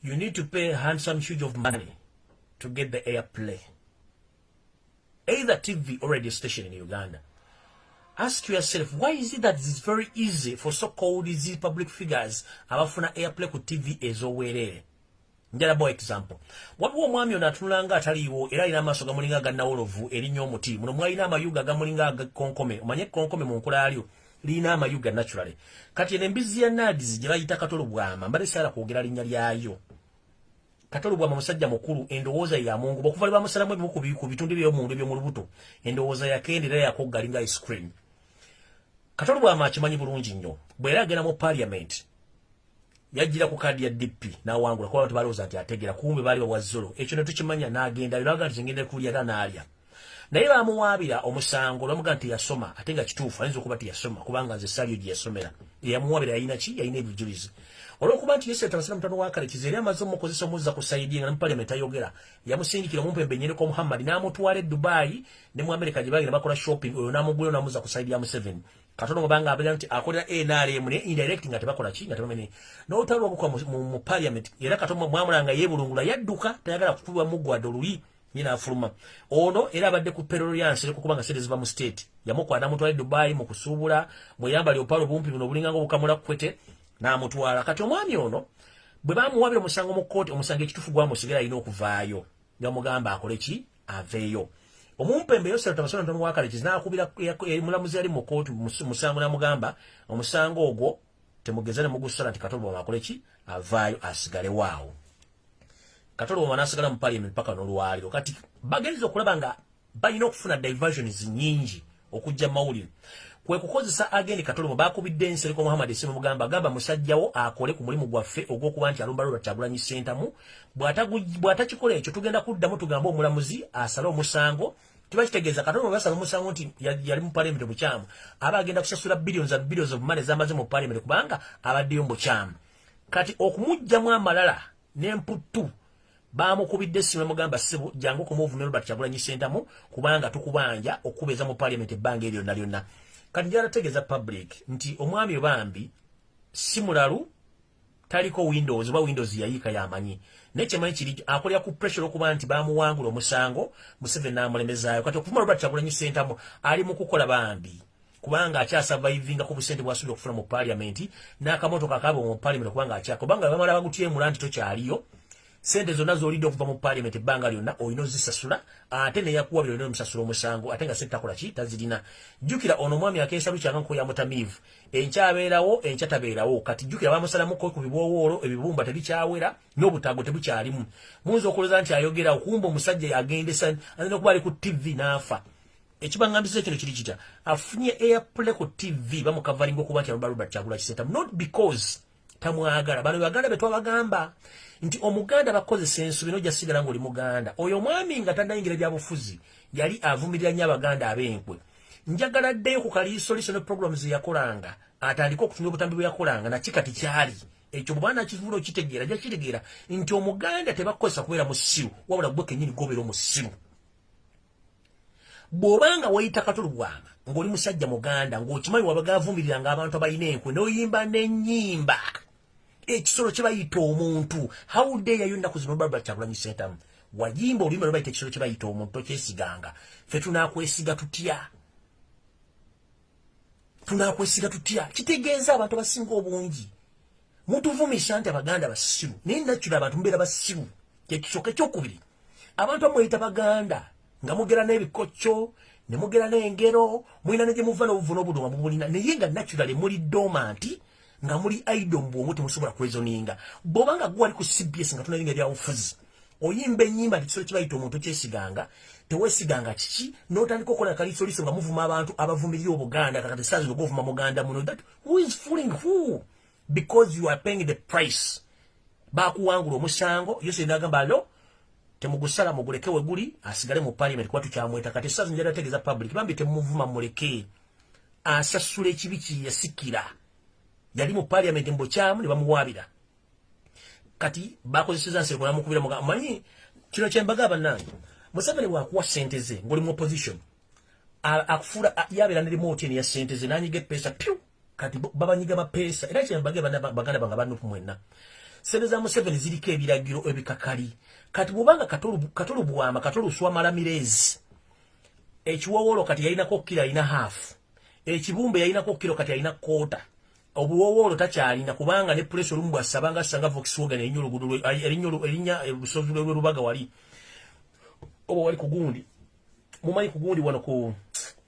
You need to pay a handsome huge of money to get the airplay. Either TV or radio station in Uganda. Ask yourself, why is it that it's very easy for so-called these public figures abafuna airplay ku TV ezowerere? Njala boy example. Wabu omwami ono atunula nga ataliwo era alina amaaso gamulinga gannawolovu erinya omuti. Muno mwalina amayuga gamulinga konkome. Omanye konkome mu nkula alyo. lina amayuga naturally kati ene mbizi ya nadizi gye bayita katolo bwama mbadde saala kwogera linnya lyayo katolo bwama musajja mukulu endowooza ya mungu bakuva lwe bamusalamu ebimu ku bitundu eby'omunda eby'omu lubuto endowooza yakenda era yakogga linga ice cream katolo bwama akimanyi bulungi nnyo bwe era agenda mu parliament yajjira ku kaadi ya DP n'awangula kuba abantu balowooza nti ategera kumbe baali bawa zolo ekyo ne tukimanya n'agenda yo n'agaa nti ngenda kulya era n'alya naye baamuwaabira omusango lwamugaa nti yasoma ate nga kituufu ayinza okuba nti yasoma kubanga nze saliyo gye yasomera eyamuwaabira yalina ki yalina ebijulizi olwokuba nti yesu yatabasira mutano wa kalekizi era amaze omukozesa omuzza ku sayidi nga ne mu paliamenti ayogera yamusindikira omumpembe enyereko muhammadi n'amutwala e dubayi ne mu amerika gye bagenda bakola shopping oyo n'amugulayo n'amuzza ku sayidi ya museveni katono mubanga abira nti akolera NRM ne indirect nga tebakola ki nga tebamenye n'olutalo lwabukwa mu parliament era katono mwamulanga yebulungula yadduka tayagala kukubwa mugwada oluyi nyina afuluma ono era abadde ku perolo ya nsere kukuba nga sente ziva mu state yamukwata amutwala e dubai mu kusuubula mweyambali opaalo bumpi buno obulinganga obukamula kukwete n'amutwala kati omwami ono bwe bamuwabira omusango mu kkooti omusango ekitufu gwamusigala alina okuvaayo gamugamba akole ki aveeyo omumpembe yosera tamasona ntono wakale kizinakubira eh, mulamuzi yali mu kooti musango namugamba omusango ogwo temugeza ne mugusala nti katolo bwama akole ki avaayo asigale waawo katolo bwama nasigala mu parliament paka nolwaliro kati bagenza okulaba nga balina okufuna diversions nyingi okujja mawulire kwe kukozesa agende katolimo bakubidde ensereko muhammad esimu mugamba agamba musajjawo akole ku mulimu gwaffe ogw'okuba nti alumba robert kyagulanyi sentamu bw'atakikola ekyo tugenda kuddamu tugambe omulamuzi asale omusango kiba kitegeeza katolimo basala omusango nti yali mu palamenti obukyamu aba agenda kusasula billions of billions of money zamaze mu palamenti kubanga abaddeyo mu bukyamu kati okumugjamu amalala n'emputtu baamukubidde essimu emugamba ssebo jangu kumuvume robert kyagulanyi sentamu kubanga tukubanja okukubeeza mu paliament ebbanga eryo lyonna lyonna kati gyalategeeza public nti omwami obambi si mulalu taliko windows oba windows yayiika yamanyi naye kyemanyi kiri akolera ku pressure okuba nti bamuwangula omusango museveni n'amulemezaayo kati okuvuma robert kyagulanyi sentamu ali mu kukola bambi kubanga akyasavaivinga ku busente bwasuubira okufuna mu paliamenti n'akamotoka akaaba mu paliamenti kubanga akyaka kubanga bamala bagutyemula nti tokyaliyo sente zonna z'olidde okuva mu paliamenti ebbanga lyonna olina ozisasula ate neyakuwa byo olina omusasula omusango ate nga sentakola ki tazirina jjukira ono omwami akeesa lukyanga nko ya mutamiivu enkyabeerawo enkya tabeerawo kati jjukira bamusalamuko ku bibwowoolo ebibumba tebikyawera n'obutaago tebukyalimu muyinza okulooza nti ayogera okumba omusajja yagendesa ayina okuba ali ku ttivi n'afa ekibangambisa ekino kiri kitya afunye airplay ku tv bamukavalinga okuba nti aluba robert kyagula kisenta not because tamwagala bano baganda betwabagamba nti omuganda bakozesa ensu bino jasigala ngaoli muganda oyo omwami nga tanayingira byabufuzi yali avumirira nyo abaganda abenkwe njagala ddeyo ku kaliisoliso ne programu zeyakolanga atandike okutumya obutambi bweyakolanga nakikati kyali ekyo bwana kivulo kitegeera jakitegeera nti omuganda tebakozesa kubeera musiru wabula gwe kenyini gobeera omusiru bw'oba nga wayita katulugwama ng'oli musajja muganda ng'okimanyi wabaga avumirira ng'abantu abalina enkwe n'oyimba n'ennyimba ekisolo kye bayita omuntu how dare yo ennaku zino barbara kyagulanyi sentamu wayimba oluyimba lwe bayita ekisolo kye bayita omuntu tokyesiganga ffe tunaakwesiga tutya tunakwesiga tutya kitegeeza abantu abasinga obungi mutuvumisa nti abaganda basiru naye nakira abantu mubeera basiru kyekisooka ekyokubiri abantu amweyita baganda nga mugera n'ebikokyo ne mugera n'engero mulina ne gye muva n'obuvuno obuduma mubulina naye nga naturale muli domanti nga muli idol mu bwongo temusobola kwezoninga bwoba nga gwe wali ku cbs nga tunalinga ebyabufuzi oyimba enyimba nti kisobola kibayita omuntu kyesiganga tewesiganga kiki notandika okola kalisoliso nga muvuma abantu abavumirira obuganda kakati saa zino govuma muganda muno that who is fooling who because you are paying the price bakuwangula omusango yose nagamba lo temugusala muguleke weguli asigale mu parliament kuba tukyamweta kati saa zino jatategeeza public bambi temuvuma mulekee asasula ekibi kyeyasikira yali mu parliament mbukyamu ne bamuwaabira kati bakozeseza nseko namukubira muga manyi kino kyembaga abanange museveni wakuwa sente ze ngoli mu opposition akufuula yabeera ne remote eni ya sente ze nanyiga epeesa pyu kati babanyiga bapeesa era kyembaga baganda banga banupu mwenna sente za museveni ziriko ebiragiro ebikakali kati bwobanga katolubwama katoluswamala mirezi ekiwowolo kati yalinako kilo alina half ekibumbe yalinako kilo kati alina kota obuwowolo takyalina kubanga ne pulesi olumu bwasaba nga sanga vokswagen erinya olugudo erinya olusozi lwerubaga wali oba wali kugundi mumanyi kugundi wano ku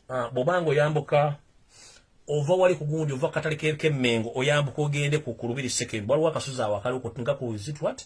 ah, bobanga oyambuka ova wali kugundi ova katale kemengo oyambuka ogende ku kulubiri seke waliwo akasozi awakali okutinga ku zitwat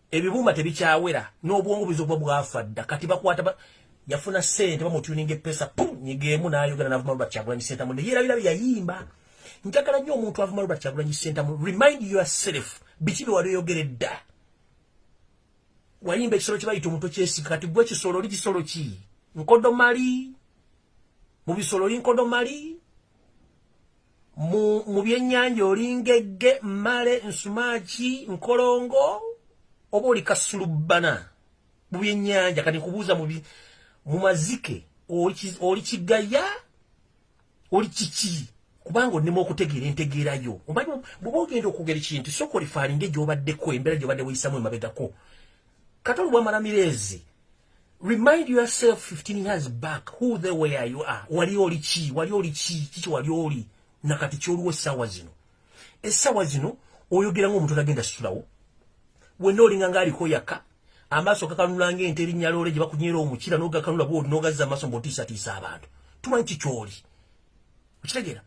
ebibumba tebikyawera n'obwongo buyinza okuba bwafa dda kati bakwata ba, yafuna sente bamutuninga epesa pum nyigeemu n'ayogera n'avuma robert kyagulanyi sentamu ne yeerabira bye yayimba njagala nnyo omuntu avuma robert kyagulanyi sentamu remind yourself biki bye wali oyogere dda wayimba ekisolo kye bayita omuntu kyesika kati gwe kisolo oli kisolo ki nkodomali mu bisolo oli nkodomali mu byennyanja oli ngegge mmale nsumaaki nkolongo oba oli kasulubbana mu byennyanja kati nkubuuza mu mazike oli kigaya oli kiki kubanga onnema okutegeera entegeerayo omanyi bwoba ogenda okwogera ekintu sooka olifaalinga egyobaddeko embeera gyobadde weyisamu emabegako kati olubwamala mireezi Remind yourself 15 years back who they were you are. Wali oli chi, wali oli chi, chichi wali oli. Na kati choluwe sawa zino. E sawa zino, oyo gira ngu mtuna genda sulawo. Wendo oli ngangari ko yaka. Amaso kakanula nge enteri nyalore jiba kunyero umuchira noga kanula buo noga za maso mbotisa tisa abantu. Tumanchi choli. Uchita gira.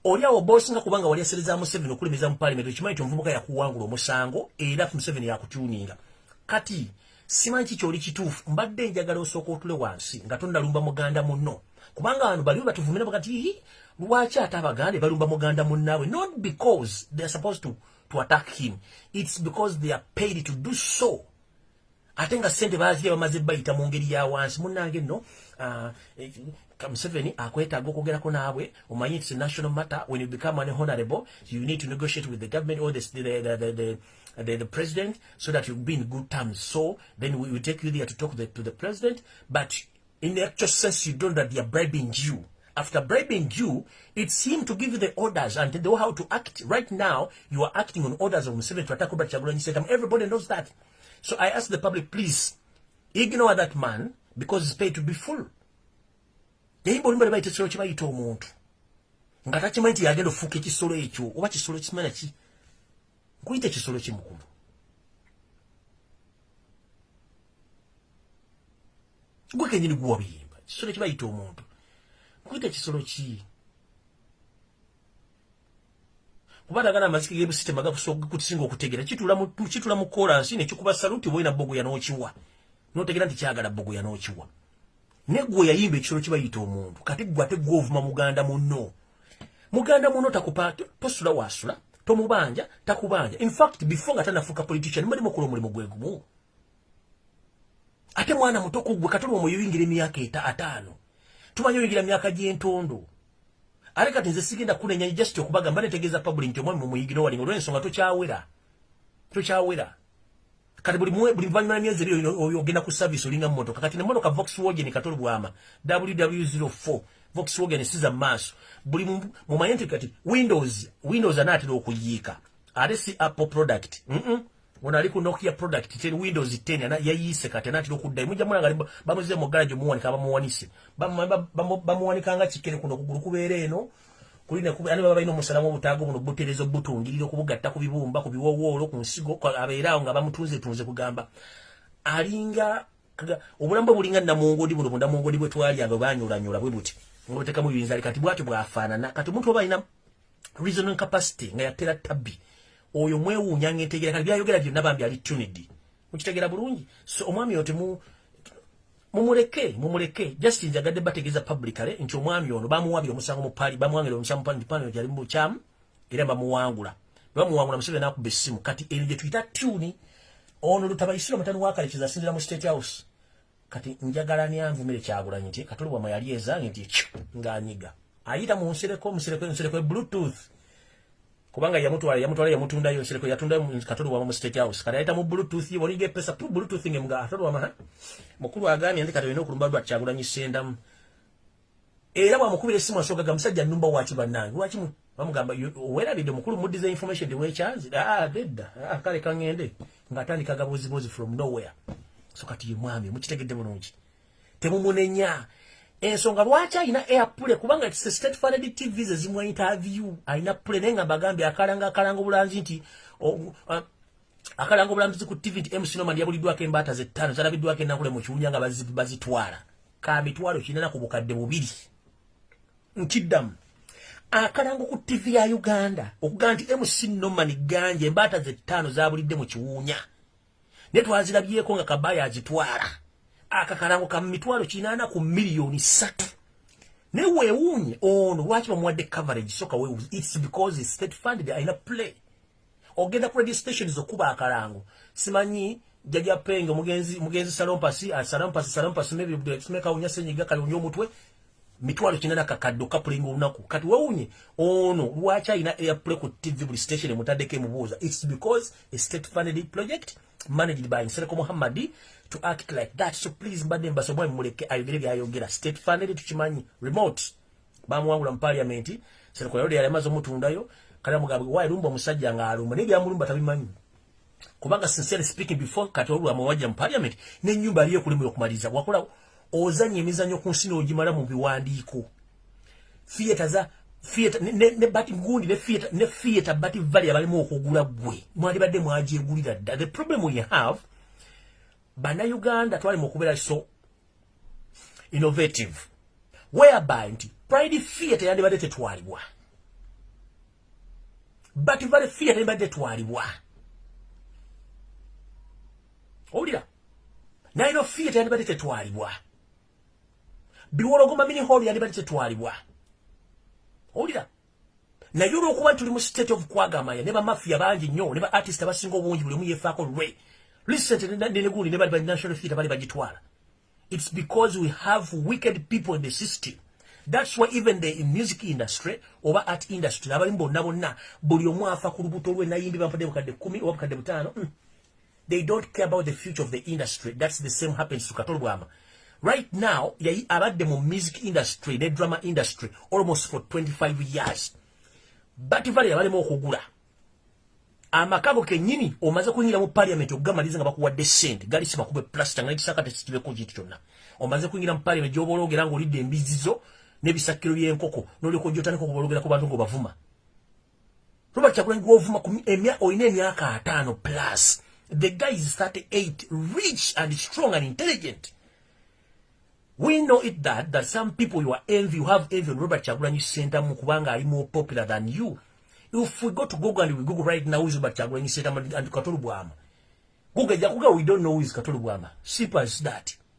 oli awo bosinga kubanga wali asereza museveni okulemeza mu palimenti okimanyi ti omuvubuka yakuwangula omusango era museveni yakutuninga kati simanyi ki kyoli kituufu mbadde njagala osooka otule wansi nga tonnalumba muganda munno kubanga abantu baliwo batuvumira bagati hi lwaki ate abaganda balumba muganda munnaabwe not because they are supposed to, to attack him it's because they are paid to do so ate nga sente bazirya bamaze bayita mu ngeri ya wansi munnange nno ah, eh, Museveni akwetaaga okwogerako naabwe omanyi it's a national matter when you become an honorable you need to negotiate with the government or the, the, the, the, the Uh, the, the president so that you be in good terms. So then we, we take you there to talk the, to the president. But In the actual sense, you don't that they are bribing you. After bribing you, it's him to give you the orders and they know how to act. Right now, you are acting on orders of Museveni to attack Robert Chagulanyi Sentamu. Everybody knows that. So I ask the public, please, ignore that man because he's paid to be full. yayimba olumba lebayita ekisolo kyebayita omuntu nga takimanyi nti yagenda ofuuka ekisolo ekyo oba kisolo kisimanya ki nkuyita ekisolo ki mukulu gwe kenyini guwa biyimba kisolo kibayita omuntu nkuyita ekisolo ki kuba nagana amaziki gebusitema gakusinga okutegera kitula mu kolansi nekikuba saluti woyina bogoya nokiwa notegera nti kyagala bogoya nokiwa ne gwe yayimba ekisolo kibayita omuntu kati gwe ate gwe ovuma muganda munno muganda munno takupa tosula wasula tomubanja takubanja in fact before nga tanafuuka politician mali mukola omulimu gwe gumu ate mwana muto ku gwe katuli omuyuyingira emyaka eta ataano tumanyi oyingira myaka gy'entondo ate kati nze sigenda kunenya just okubagamba netegeeza public nti omwami mumuyigina owalinga olwensonga tokyawera tokyawera kati buli mwe buli vanyuma myezi ebiri ogenda ku service olinga motoka kati ne motoka Volkswagen katolo bwama WW04 Volkswagen siza maso buli mu mayenti kati Windows Windows anatira okuyiika ate si Apple product mhm mm ona aliku Nokia product 10 Windows 10 ana yayise kati anatira okudda imujja mwana ngaliba bamuze mu garage muwanika bamuwanise bamuwanika nga kikere kuno kugulu kubeere eno kulina kuba ani baba balina omusalamu obutaago buno buterezo butungirira okubugatta ku bibumba ku biwowoolo ku nsigo abeeraawo nga bamutunze tunze kugamba alinga obulamu bwe bulinga namungodi buno bunamungodi bwe twalyanga banyulanyola bwe buti ngobutekamu bibinzali kati bwati bwafaanana kati omuntu oba alina reasoning capacity nga yatera tabbi oyo mwewuunya ngaentegeera kati byayogera byonna bambi ali tunidi mukitegera bulungi so omwami oyo temu mumuleke mumuleke just njagadde bategeeza publicale nti omwami ono bamuwabira omusango mupali bamwangira omusango mupali nti pano gyali mubukyamu era bamuwangula bamuwangula musebe nakuba essimu kati eri gye tuyita tuni ono lutabayisira omutani wakalikiza asinzira mu state house kati njagala nyanvumire kyagulanyi nti katuli wama yali ezange nti ekyo ng'anyiga ayita mu nsereko omusereko ensereko e bluetooth kubanga yamutwala yamutwala yamutundayo nsireko yatundayo katoli wama mu state house kati ayita mu bluetooth ye boniga epesa tu bluetooth nge mga atoli wama mukulu agambye nti kati olina okulumba lwa kyagulanyi sendamu era bwamukubira essimu asooka ga musajja nnumba waki bannange lwaki bamugamba werabidde mukulu muddiza information de wekyanzi ah, dedda ah, kale kangende ng'atandika gabuuzibuuzi from nowhere so kati ye mwami mukitegedde bulungi temumunenya ensonga lwaki alina airpule kubanga it's a state funded tv ze zimwa interview alina pule naye nga mbagambye akalanga akalanga obulanzi nti uh, akalanga obulambizi ku tv nti mc noman yabuliddwako embaata ze ttaano zalabiddwako enakule mu kiwunya nga bazitwala ka mitwalo kinana ku bukadde bubiri nkiddamu akalango ku ttivi ya uganda okugaa nti mc noman ganja embaata ze ttaano zabulidde mu kiwuunya naye twazirabyeko nga kabaya azitwala akakalango ka mitwalo kinaana ku miliyoni satu naye wewuunye ono lwaki bamuwadde coverage soka wewuunye its because its state funded alina play ogenda ku radio station zokuba akalango simanyi jaja penge mugenzi mugenzi salompasi asalompasi ah, salompasi maybe the make a unyase nyiga kalunyo mutwe mitwalo kina na kakaddo kapulinga olunaku kati wewunye ono lwaki alina airplay ku tv buli station emutaddeko emubuuza its because a state funded project managed by nsereko muhammadi to act like that so please mbadde mbasobwa mumuleke ayogere byayogera state funded tukimanyi remote bamuwangula mu parliament sereko yalode yali amaze omutundayo kale mugambe why lumba omusajja nga alumba naye byamulumba tabimanyi kubanga sincere speaking before kati olwa mawajja mu parliament ne nyumba aliye kulimwe okumaliza wakola ozanye emizanyo ku nsino ojimala mu biwandiiko theater za theater ne, ne, ne bati gundi ne theater ne theater bati vali abalimu okugula gwe mwali badde mwaje gulira the problem we have bana uganda twali mu kubera so innovative whereby nti pride fear teyandibadde tetwalibwa but vale fear teyandibadde tetwalibwa owulira naye no fear teyandibadde tetwalibwa biwologoma mini hall yandibadde tetwalibwa owulira naye olwokuba tuli mu state of kwagamaya ne bamafia bangi nnyo ne ba artist abasinga obungi buli omu yefaako lwe lisente nenegundi ne bali ba national theatre bali bagitwala it's because we have wicked people in the system that's why even the music industry oba art industry abalimu bonna bonna buli omu afa ku lubuto lwe nayimbi bampadde bukadde kumi oba bukadde butaano mm. they don't care about the future of the industry that's the same happens to katolo bwama right now yayi abadde mu music industry ne drama industry almost for 25 years but vale yabalemu okugula amakago kenyini omaze kunyira mu parliament okugamaliza nga bakuwadde sente gali simakube plaster nga ekisaka tekitibeko kintu kyonna omaze kunyira mu parliament gyoba ologera nga olidde embizizo n'ebisakkiro by'enkoko n'olyoka ojja otandika okuba ologera ku bantu ng'obavuma Robert Kyagulanyi gw'ovuma emya olina emyaka ataano plus the guy is 38 rich and strong and intelligent we know it that that some people you are envy you have envy on Robert Kyagulanyi Sentamu kubanga ali more popular than you if we go to Google and we Google right now is Robert Kyagulanyi Sentamu and Katolu Bwama Google jakuga we don't know who is Katolu Bwama simple as that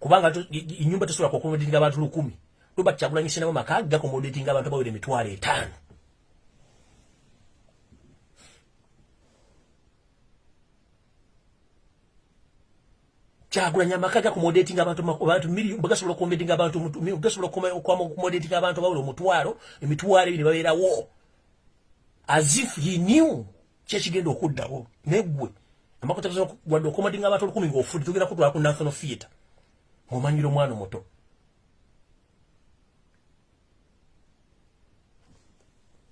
kubanga inyumba tesobola kuakomodatinga abantu lukumi robert kyagulanyi sinamu maka gakomodatinga abantu abawera emitwalo etaano kyagulanyi amaka gakomodatinga abantu abantu miliyo bagasobola okukomodatinga abantu gasobola okukomodatinga abantu abawera omutwalo emitwalo ebiri babeerawo as if he knew kyekigenda okuddawo negwe amakotawadde okomadinga abantu olukumi ngaofudde tugenda kutwala ku national theatre ngomanyira omwana omuto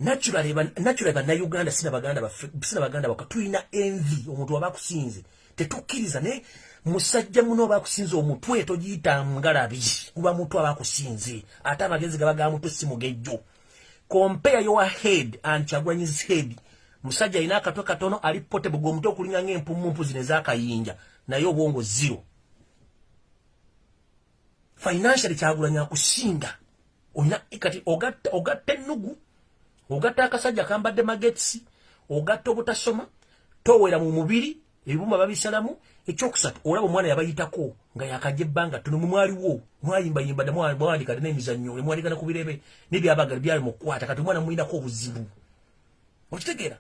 naturally banauganda sina baganda baffe sina baganda baka tulina envi omuntu waba akusinze tetukkiriza naye musajja muno oba akusinze omutwe togiyita ngalabi kuba mutu aba akusinze ate amagezi gaba ga mutu si mugejjo compare your head and chagwanyi's head musajja alina akatwe katono ali potable gw'omuti okulinga ng'empummumpu zino ez'akayinja naye obwongo zero financially kyagulanyi akusinga olina kati ogatta ogatta ennugu ogatta akasajja kambadde magetsi ogatta obutasoma towera mu mubiri ebibumba babisalamu ekyokusatu olaba omwana yabayitako nga yakaja ebbanga ttono mwe mwaliwo mwayimbayimba dda mwawandika dda n'emizannyo ne mwaligana ku birebe nebyabagala byali mu kukwata kati omwana mulinako obuzibu okitegeera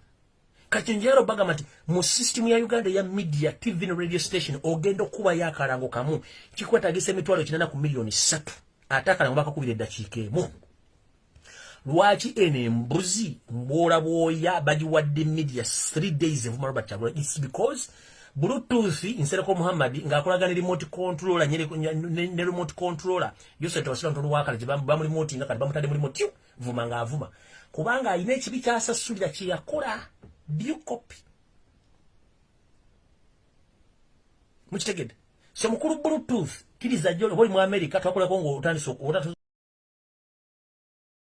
kati njayala obagamba nti mu sisitimu ya uganda eya media tv ne radio station ogenda okukubayo akalango kamu kikwetagisa emitwalo kinana ku miliyoni ssatu ate akalango bakakubira eddakiika emu lwaki eno embuzi mbwola bwoya bagiwadde media three days evuma robert kyagula its because bluetooth nsereko muhammad ng'akolagana remote controller ne remote controller yose tewasira ntono wakala gye bamulimoti nga kati bamutadde mulimoti vuma ng'avuma kubanga alina ekibi kyasasulira kye yakola due copy mukitegedde So mukulu bluetooth kiriza jole holi mu America twakolako ngo otandise okuwota